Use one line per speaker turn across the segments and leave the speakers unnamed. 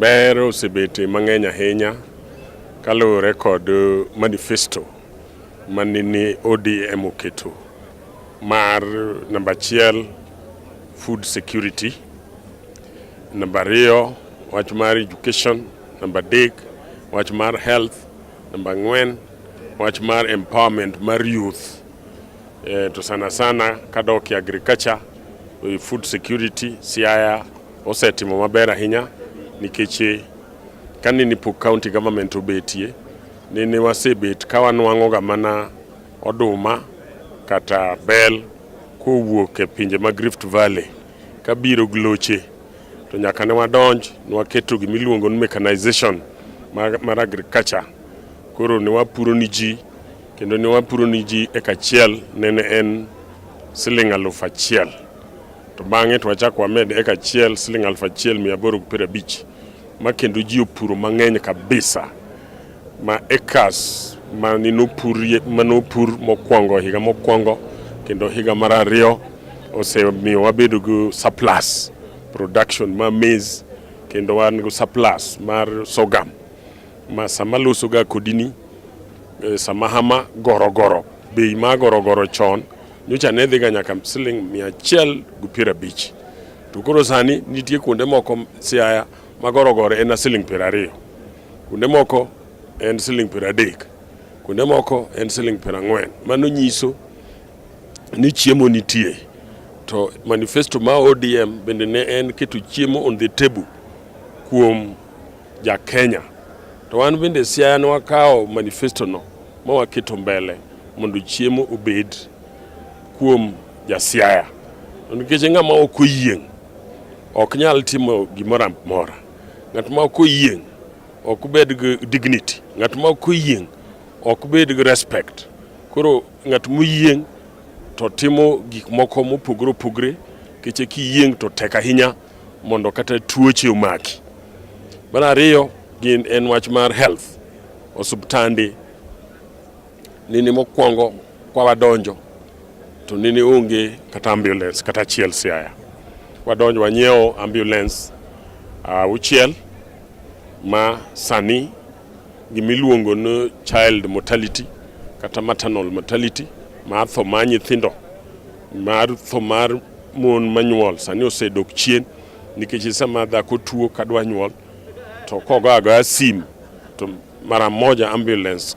Ber osebete mang'eny ahinya kaluwore kod uh, manifesto manini ODM oketo mar namba achiel food security, namba ariyo wach mar education Namba adek, wach mar health. Namba ang'wen, wach mar empowerment mar youth. E, to sana sana kadok e agriculture, e, food security, Siaya osetimo maber ahinya nikech e, kane ni pok county government obetie, nene wasebet ka wanwang'oga mana oduma kata bel kowuok e pinje mag Rift Valley kabiro gloche to nyaka ne wadonj ne waketo gima iluongo ni mechanization mar agriculture koro ne wapuro ni ji kendo ne wapuro ni ji eka achiel nene en siling' aluf achiel to bang'e to wachako wamed eka achiel siling' aluf achiel mia aboro gi piero abich ma kendo ji opuro mang'eny kabisa ma ekas mane nopurie mane opur mokwongo higa mokwongo kendo higa mar ariyo osemiyo wabedo gi surplus production ma maize kendo wan gi surplus mar sorghum ma sama losoga kodini eh, sama hama gorogoro bei ma gorogoro chon nyocha ne dhiga nyaka siling mia achiel gi piero abich to koro sani nitie kuonde moko siaya ma gorogoro en a siling piero ariyo Kuonde moko en siling' piero adek, kuonde moko en siling' piero ang'wen. Mano nyiso ni chiemo nitie. To manifesto ma ODM bende ne en keto chiemo on the table kuom ja Kenya. To wan bende Siaya ne wakawo manifesto no ma waketo mbele mondo chiemo obed kuom ja Siaya. To nikech ng'ama ok oyieng' ok nyal timo gimoro amora. Ng'at ma ok oyieng' ok bed gi dignity, ng'at ma ok oyieng' ok bed gi respect. Koro ng'at moyieng' to timo gik moko mopogore opogre keche kiyieng' to tek ahinya mondo kata tuoche omaki. Mar ariyo gin en wach mar health, osiptande Nini mokwongo kwa wadonjo to nini onge kata ambulance kata achiel Siaya. Wadonjo wanyiewo ambulance auchiel uh, ma sani gimiluongo ni child mortality kata maternal mortality mar tho mar nyithindo mar tho mar mon manyuol sani osedok chien nikech sama dhako tuo kadwa nyuol to kogo agoya sim to mara moja ambulance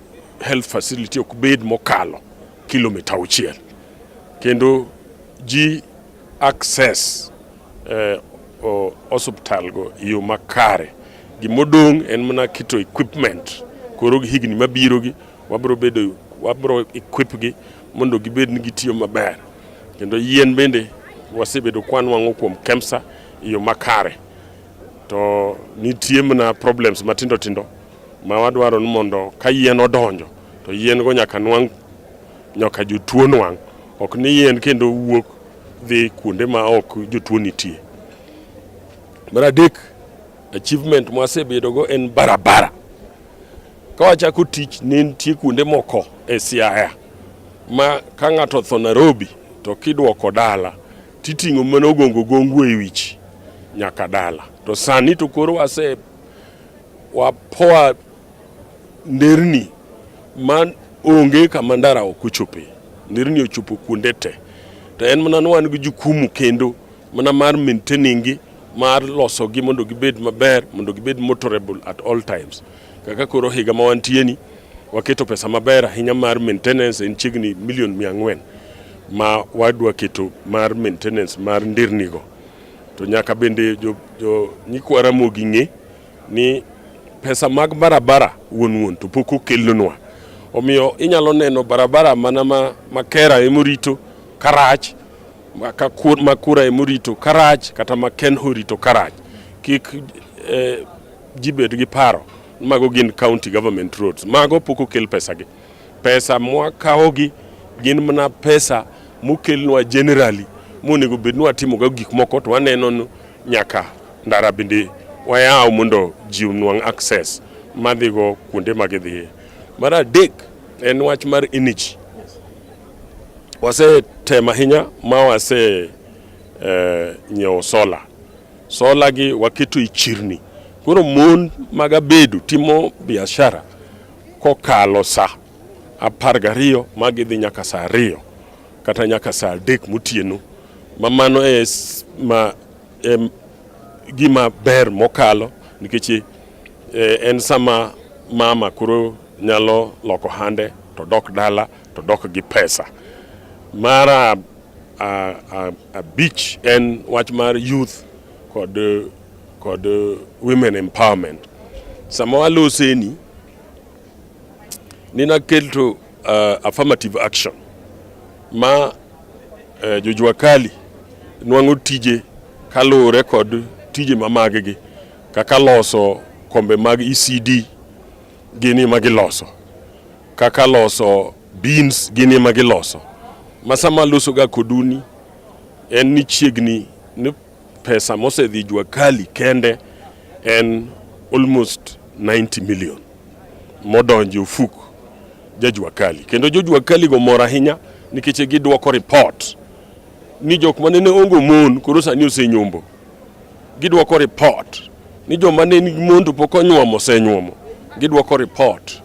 health facility ok bed mokalo kilomita auchiel kendo ji access eh, hospital go e yo makare. Gimodong' en mana keto equipment koro gi higni mabiro gi wabro bedo wabro equip gi mondo gibed ni gitiyo maber kendo yien bende wasebedo kwanwang'o kuom KEMSA e yo makare to nitie mana problems matindo tindo ma wadwaro ni mondo ka yien odonjo to yien go nyaka nwang' nyaka jotuo nwang' ok ni yien kendo wuok dhi kuonde ma ok jotuo nitie. Mar adek, achievement mwasebedogo en barabara. Ka wachako tich ne nitie kuonde moko e Siaya ma ka ng'ato otho Nairobi to kidwoko dala titing'o mana ogongo gongo e wich nyaka dala to sani to koro wase wapoa nderni ma onge kama ndara ok ochope. Nderni ochopo kuonde te, to en mana ni wan gi jukumu kendo mana mar maintaining gi mar losogi mondo gibed maber, mondo gibed motorable at all times. Kaka koro higa ma wantie ni waketo pesa maber ahinya mar maintenance en chiegni milion mia ang'wen ma wadwa keto mar maintenance mar ndernigo. To nyaka bende jo, jo nyikwa Ramogi ng'e ni pesa mag barabara wuon wuon to pok okelnwa. Omiyo inyalo neno barabara mana ma Makera emorito Karach, Makura emorito Karach kata Makenho horito Karach. Kik eh, ji bed gi paro mago gin county government roads. Mago pok okel pesagi. Pesa mwakawogi gin mana pesa mokelnwa generally monego bed ni watimoga gik moko to waneno nyaka ndara bende wayaw mondo ji onwang' access madhigo kuonde ma gidhiye. Mar adek en wach mar energy. Wasetemo ahinya ma wase eh, nyiewo sola. Sola gi waketo e chirni. Koro mon mag abedo timo biashara Kokalo sa apar gariyo ma gidhi nyaka sa ariyo kata nyaka sa adek motieno ma mano e ma e gima ber mokalo nikech e, en sama mama koro nyalo loko hande to dok dala to dok gi pesa mara abich en wach mar youth kod kod uh, women empowerment. Sama waloseni ninaketo uh, affirmative action ma uh, jojua kali nwang'o tije kaluwore kod tije ma maggi kaka loso kombe mag ECD gini ma giloso kaka loso beans gini ma giloso ma sama losoga koduni en ni chiegni ni Pesa mosedhi jua kali kende en almost 90 million modonje ofuk jajua kali kendo jojua kali go mor ahinya nikech gidwoko report ni jok ma nene ongo mon koro sani osenyombo. Gidwoko report ni joma ne nigi mon to pok onyuomo osenyuomo. Gidwoko report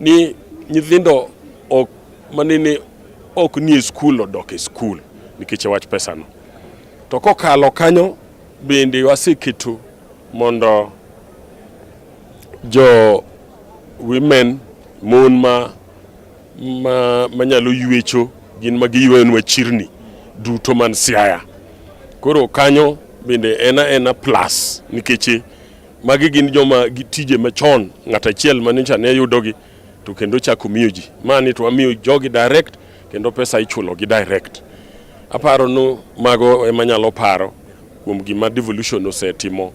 ni nyithindo ok manene ok nie skul odok e skul nikech wach pesano. To kokalo kanyo bende waseketo mondo jo women mon ma ma manyalo yuecho gin ma giyuenwa chirni duto man Siaya. Koro kanyo bende ena ena plus nikech magi gin joma gitije machon ng'at achiel manyocha ne yudogi to kendo chako miyo ji mani to wamiyo jogi direct kendo pesa ichulo gi direct. Aparo nu mago ema nyalo paro kuom gima devolution osetimo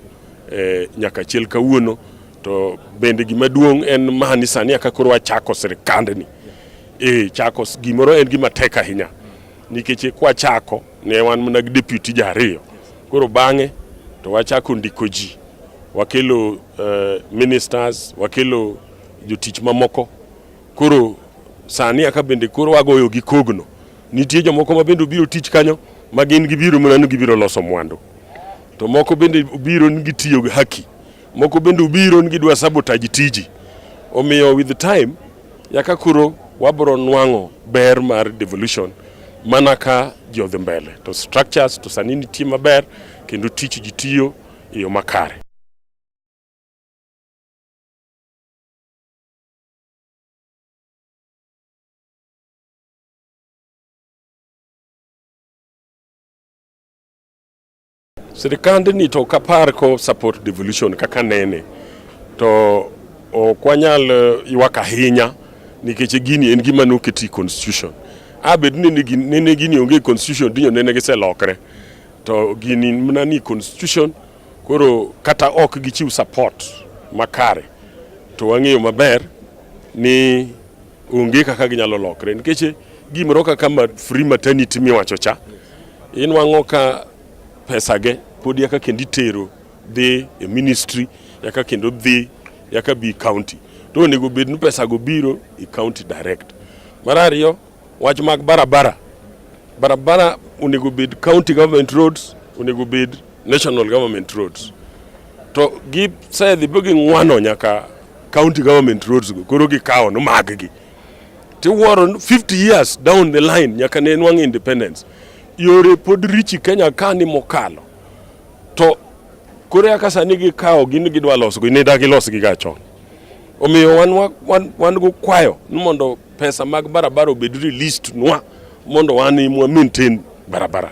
eh, nyaka chiel kawuono to bende gima duong' en mani sani aka koro wachako sirikandni eh, chako gimoro en gima tek ahinya nikech kwachako ne wan mana gi deputy ji ariyo koro bang'e to wachako ndiko ji wakelo eh, ministers wakelo jotich mamoko Koro sani aka bende koro wagoyo gi kogno. Nitie jomoko ma bende obiro tich kanyo ma gin gibiro mana ni gibiro loso mwandu. To moko bende obiro ni gitiyo gi haki. Moko bende obiro ni gidwa sabotage tiji. Omiyo with time yaka koro wabro nwang'o ber mar devolution mana ka ji odhi mbele to structures to sani nitie maber kendo tich ji tiyo e yo makare. Sirikandni to kapar ko support devolution kaka nene to ok wanyal eh, ywak ahinya nikech gini en gima noketi constitution abed ni nene gini onge constitution dinyo nene giselokre to gini mana ni constitution Koro kata ok gichiw support makare to wang'eyo maber ni onge kaka ginyalo lokre nikech gimoro kaka ma free maternity miwacho cha inwang'o ka pesage pod yaka kendo itero dhi e ministry yaka kendo dhi yaka bi county to onego bed ni pesago biro e county direct. Mar ariyo Wach mag barabara. Barabara onego bed county government roads, onego bed national government roads. To gi gisedhi be ging'wano nyaka county government roads go koro gikawo no maggi. Tiwuoro 50 years down the line nyaka ne nwang' independence. Yore pod richi Kenya ka ni mokalo. To koro yaka sani gikawo gin gidwa losgo, ne dagi losgi ga chon. Omiyo wan, wan, wan go kwayo ni mondo Pesa mag barabara obed released nwa mondo wan imwa maintain barabara.